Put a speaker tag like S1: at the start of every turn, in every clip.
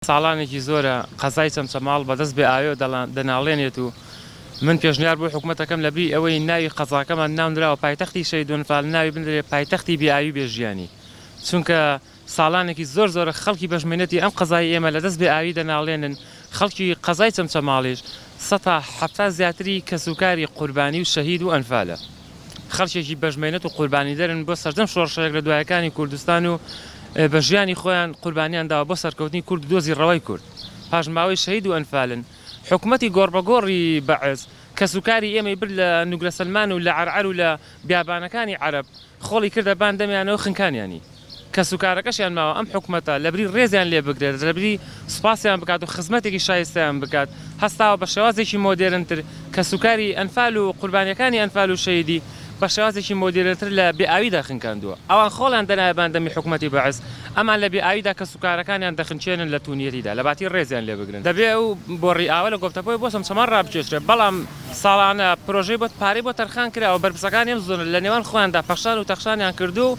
S1: ساڵانێکی زۆرە قەزای چەمچەماڵ بە دەست بێ ئاوێ دەناڵێنێت و من پێشنیار بۆ حکومەت دەکەم لە بری ئەوەی ناوی قەزاکەمان ناونراوە پایتەختی شەیدون فال ناوی بندرێ پایتەختی بێ ئاوی بێ ژیانی چونکە ساڵانێکی زۆر زۆرە خەڵکی بەشمێنەتی ئەم قەزای ئێمە لە دەست بێ ئاوی دەناڵێنن خەڵکی قەزای چەمچەماڵیش سەتا حەفتا زیاتری کەسوکاری قوربانی و شەهید و ئەنفالە. خەڵکێکی بەشمەینەت و قوربانیدەرن بۆ سەرجەم شۆڕشەێک لە دوایەکانی کوردستان و بە ژیانی خۆیان قوربانیان داوە بۆ سەرکەوتنی کورد و دۆزی ڕەوای کورد پاشماوەی شەهید و ئەنفالن حکومەتی گۆڕبەگۆڕی بەعس کەسوکاری ئێمەی برد لە نوگرەسەلمان و لە عەرعەر و لە بیابانەکانی عەرەب خۆڵی کردە بان دەمیانەوە خنکانیانی کەسوکارەکەشیان ماوە ئەم حکومەتە لەبری رێزیان لێ بگرێت، لەبری سوپاسیان بکات و خزمەتێکی شایستەیان بکات، هەستاوە بە شێوازێکی مۆدێرنتر کەسوکاری ئەنفال و قوربانییەکانی ئەنفال و شەهیدی بە شێوازێکی مۆدێرنتر لە بێئاویدا خنکاندووە. ئەوان خۆڵیان دەنایە باندەمی حکومەتی بەعس، ئەمان لە بێئاویدا کەسوکارەکانیان دەخنکێنن لە تونیەتیدا لەباتی رێزیان لێ بگرن. دەبێت ئەو بۆڕی ئاوە لە گۆپتەپۆی بۆ چەمچەماڵ رابکێشرێت، بەڵام ساڵانە پرۆژەی بۆ پارەی بۆ تەرخان کراوە، بەرپرسەکانی ئەم زۆنە لەنێوان خۆیاندا پەخشان و تەخشانیان کردووە و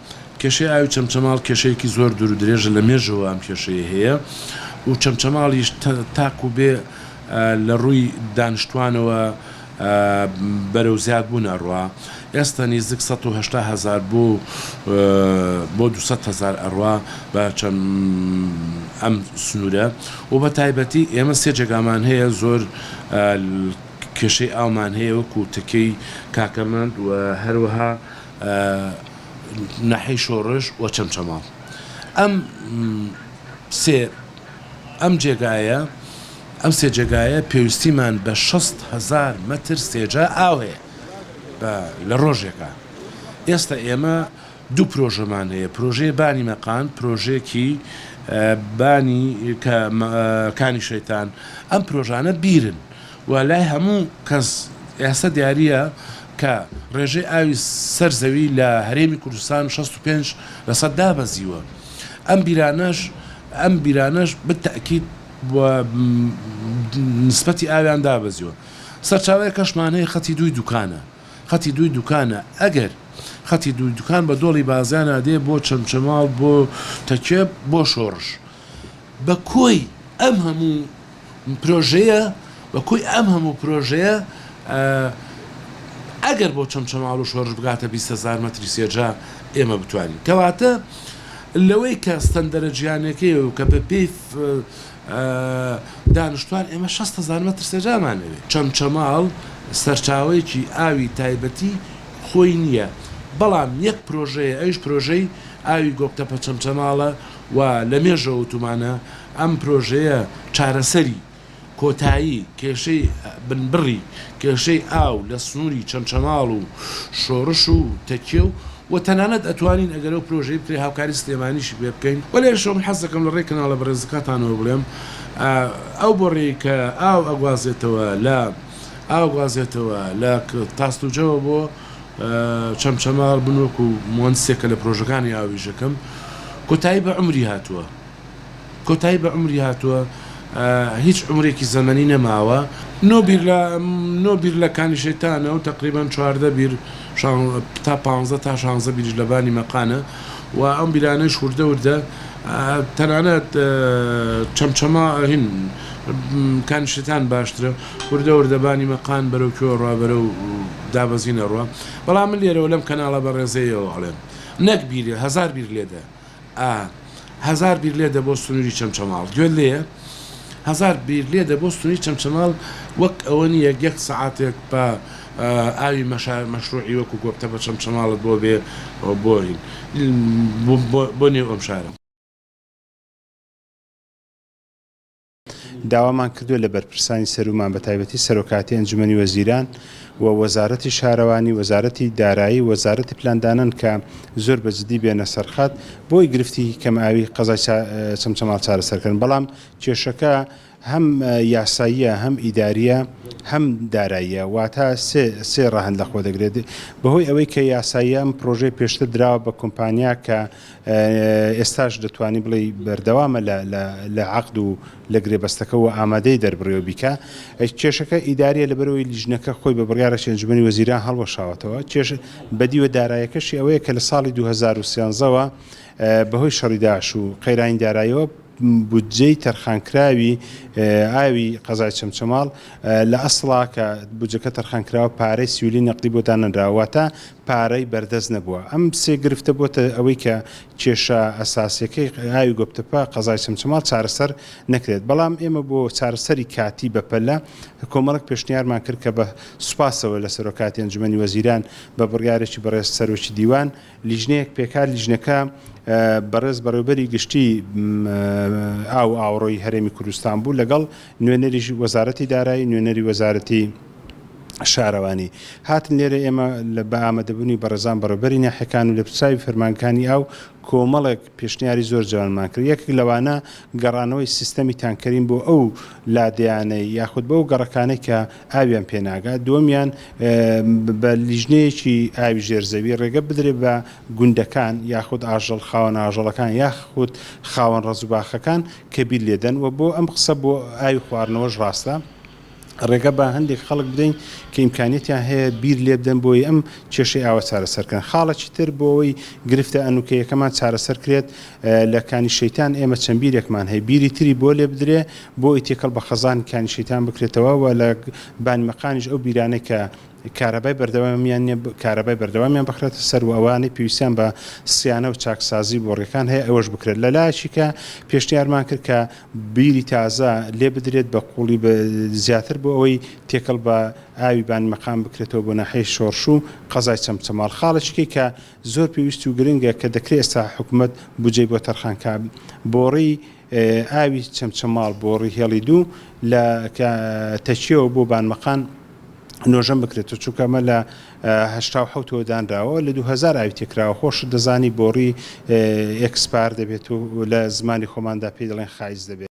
S2: کێشەی ئاوی چەمچەماڵ کێشەیەکی زۆر دوور و درێژە لە مێژەوە ئەم کێشەیە هەیە و چەمچەماڵیش تاکو بێ لە ڕووی دانشتوانەوە بەرەو زیاد بوون ئەڕوا ئێستا نیزیک سەد و هەشتا هەزار بۆ بۆ دوو سەد هەزار ئەڕوا بە چەم ئەم سنوورە و بە تایبەتی ئێمە سێ جێگامان هەیە زۆر کێشەی ئاومان هەیە وەکو تەکەی کاکەمەند و هەروەها ناحیەی شۆڕش و چەمچەماڵ ئەم سێ ئەم جێگایە ئەم سێ جێگایە پێویستیمان بە شەست هەزار مەتر سێجا ئاو هەیە لە ڕۆژێکە ئێستا ئێمە دوو پرۆژەمان هەیە پرۆژەیە بانی مەقان پرۆژێکی بانی کانی شەیتان ئەم پرۆژانە بیرن و لای هەموو کەس ئێستا دیارییە کە ڕێژەی ئاوی سەر زەوی لە هەرێمی کوردستان شەست و پێنج لەسەد دابەزیوە ئەم بیرانەش ئەم بیرانەش بە تەئکید نسبەتی ئاویان دابەزیوە سەرچاوەیەکەشمان هەیە خەتی دووی دوکانە خەتی دووی دوکانە ئەگەر خەتی دووی دوکان بە دۆڵی بازیانا دێ بۆ چەمچەماڵ بۆ تەکێ بۆ شۆڕش بە کۆی ئەم هەموو پرۆژەیە بە کۆی ئەم هەموو پرۆژەیە ئە ئەگەر بۆ چەمچەماڵ و شۆرش بگاتە بیست هەزار مەتری سێجا ئێمە بتوانین کەواتە لەوەی کە ستەندەرە جیهانیەکەی و کە بە پێی ئە دانشتوان ئێمە شەست هەزار مەتر سێجامان ئەوێ چەمچەماڵ سەرچاوەیەکی ئاوی تایبەتی خۆی نیە بەڵام یەک پرۆژەیە ئەویش پرۆژەی ئاوی گۆپتەپە چەمچەماڵە و لە مێژە وتومانە ئەم پرۆژەیە چارەسەری کۆتایی کێشەی بنبڕی کێشەی ئاو لە سنوری چەمچەماڵ و شۆڕش و تەکیە و و تەنانەت ئەتوانین ئەگەر ئەو پرۆژەی بکرێت هاوکاری سلێمانیشی پێ بکەین وە لێرەشەوە من حەز دەکەم لە ڕێی کەناڵە بەڕێزەکاتانەوە بڵێم ئەو بۆڕەی کە ئاو ئەگوازێتەوە لە ئاو گوازێتەوە لە تاستوجەوە بۆ چەمچەماڵ من وەکو موەندسێکە لە پرۆژەکانی ئاوریژەکەم کۆتایی بە عمری هاتووە کۆتایی بە عمری هاتووە هیچ عمرێکی زەمەنی نەماوە نۆ بیر لە نۆ بیر لە کانی شەیتانە و تقریبان چواردە بیر تا پ تا شانزە بیرش لە بانی مەقانە و ئەم بیرانەی شوردە وردە تەنانەت چەمچەما هین کانی شەیتان باشترە وردە وردە بانی مەقان بەرەو کوێوە ڕوا بەرەو دابەزینە ڕوا بەڵام من لێرەوە لەم کەناڵە بەڕێزەیەوە ئەڵێم نەک بیرێ هەزار بیر لێدە ئا هەزار بیر لێدە بۆ سنووری چەمچەماڵ گوێت لێیە هەزار بیر لێدە بۆ سنووری چەمچەماڵ وەک ئەوە نیە یەک سەعاتێک بە ئاوی مەشا مەشروعی وەکو گۆپتە بە چەمچەماڵت بۆ بێ بۆین بۆ نێو ئەم شارە
S3: داوامان کردووە لە بەرپرسانی سەروومان بەتایبەتی سەرۆکاتی ئەنجومەنی وەزیران و وەزارەتی شارەوانی وەزارەتی دارایی وەزارەتی پلاندانن کە زۆر بە جدی بێنە سەرخات بۆی گرفتی کەم ئاوی قەزای چەمچەماڵ چارەسەرکردن بەڵام کێشەکە هەم یاساییە هەم ئیداریە هەم داراییە واتا سێ سێ ڕەهند لەخۆ دەگرێت بەهۆی ئەوەی کە یاساییە ئەم پرۆژەی پێشتر دراوە بە کۆمپانیا کە ئێستاش دەتوانی بڵێی بەردەوامە لە عەقد و لە گرێبەستەکە و ئامادەیە دەربڕیەوە بیکا. کێشەکە ئیدارییە لەبەرئەوەی لیژنەکە خۆی بە بڕیارێکی ئەنجومەنی وەزیران هەڵوەشاوەتەوە. کێشە بەدیوە دارایەکەشی ئەوەیە کە لە ساڵی دوو هەزار و سێزدە وە بەهۆی شەڕی داعش و قەیرانی داراییەوە، بودجەی تەرخانکراوی ئاوی قەزای چەمچەماڵ لە ئەسڵا کە بودجەکە تەرخانکراوە پارەی سیولی نەقدی بۆ دانەنراوە واتە پارەی بەردەست نەبووە ئەم سێ گرفتە بۆتە ئەوەی کە کێشە ئەساسیەکەی ئاوی گۆپتەپە قەزای چەمچەماڵ چارەسەر نەکرێت بەڵام ئێمە بۆ چارەسەری کاتی بەپەلە کۆمەڵێک پێشنیارمان کرد کە بە سوپاسەوە لە سەرۆکاتی ئەنجومەنی وەزیران بە بڕیارێکی بەڕێز سەرۆکی دیوان لیژنەیەک پێکا، لیژنەکە بەڕێز بەڕێوبەری گشتی ئاو و ئاوەڕۆی هەرێمی کوردستان بوو لەگەڵ نوێنەری وەزارەتی دارایی، نوێنەری وەزارەتی شارەوانی هاتن، لێرە ئێمە بە ئامەدەبوونی بەڕێزان بەڕێوبەری ناحیەکان و لێپرسراوی فەرمانکانی ئاو کۆمەڵێک پێشنیاری زۆر جوانمان کرد، یەکێک لەوانە گەڕانەوەی سیستەمی تانکەرین بۆ ئەو لادێیانەی یاخود بۆ ئەو گەڕەکانەی کە ئاویان پێناگات، دووەمیان بە لیژنەیەکی ئاوی ژێر زەوی ڕێگە بدرێت بە گوندەکان یاخود ئاژەڵ خاوەن ئاژەڵەکان یاخود خاوەن ڕەز و باخەکان کە بیر لێدەن و بۆ ئەم قسە بۆ ئاوی خواردنەوەش ڕاستە ڕێگە بە هەندێک خەڵک بدەین کە ئیمکانیتیان هەیە بیر لێبدەن بۆی ئەم کێشەی ئاوە چارەسەرکەن خاڵەکی تر بۆ ئەوی گرفتە ئەنوکەیەکەمان چارەسەر کرێت لە کانی شەیتان ئێمە چەند بیرێکمان هەیە بیری تری بۆ لێ بدرێ بۆ ئەوەی تێکەڵ بە خەزانی کانی شەیتان بکرێتەوە و لە بانی مەقانیش ئەو بیرانەی کە کارەبای بەردەوامیان نیە کارەبای بەردەوامیان بخرێتە سەر و ئەوانەی پێویستیان بە سیانە و چاکسازی بۆڕیەکان هەیە ئەوەش بکرێت لە لایەکی کە پێشنیارمان کرد کە بیری تازە لێ بدرێت بە قوڵی بە زیاتر بۆ ئەوەی تێکەڵ بە ئاوی بانی مەقام بکرێتەوە بۆ ناحەی شۆڕش و قەزای چەمچەماڵ خاڵەچکەی کە زۆر پێویست و گرنگە کە دەکرێت ئێستا حکوومەت بجێ بۆ تەرخانکە بۆڕی ئاوی چەمچەماڵ بۆڕی هێڵی دوو لە تەکیەوە بۆ بانمەقان نۆژەن بکرێتەوە چونکە ئەمە لە هەشتا و حەوتەوە دانراوە لە دوو هەزار ئاوی تێکراوە خۆشت دەزانی بۆڕی ئێکسپار دەبێت و لە زمانی خۆماندا پێی دەڵێن خایز دەبێت.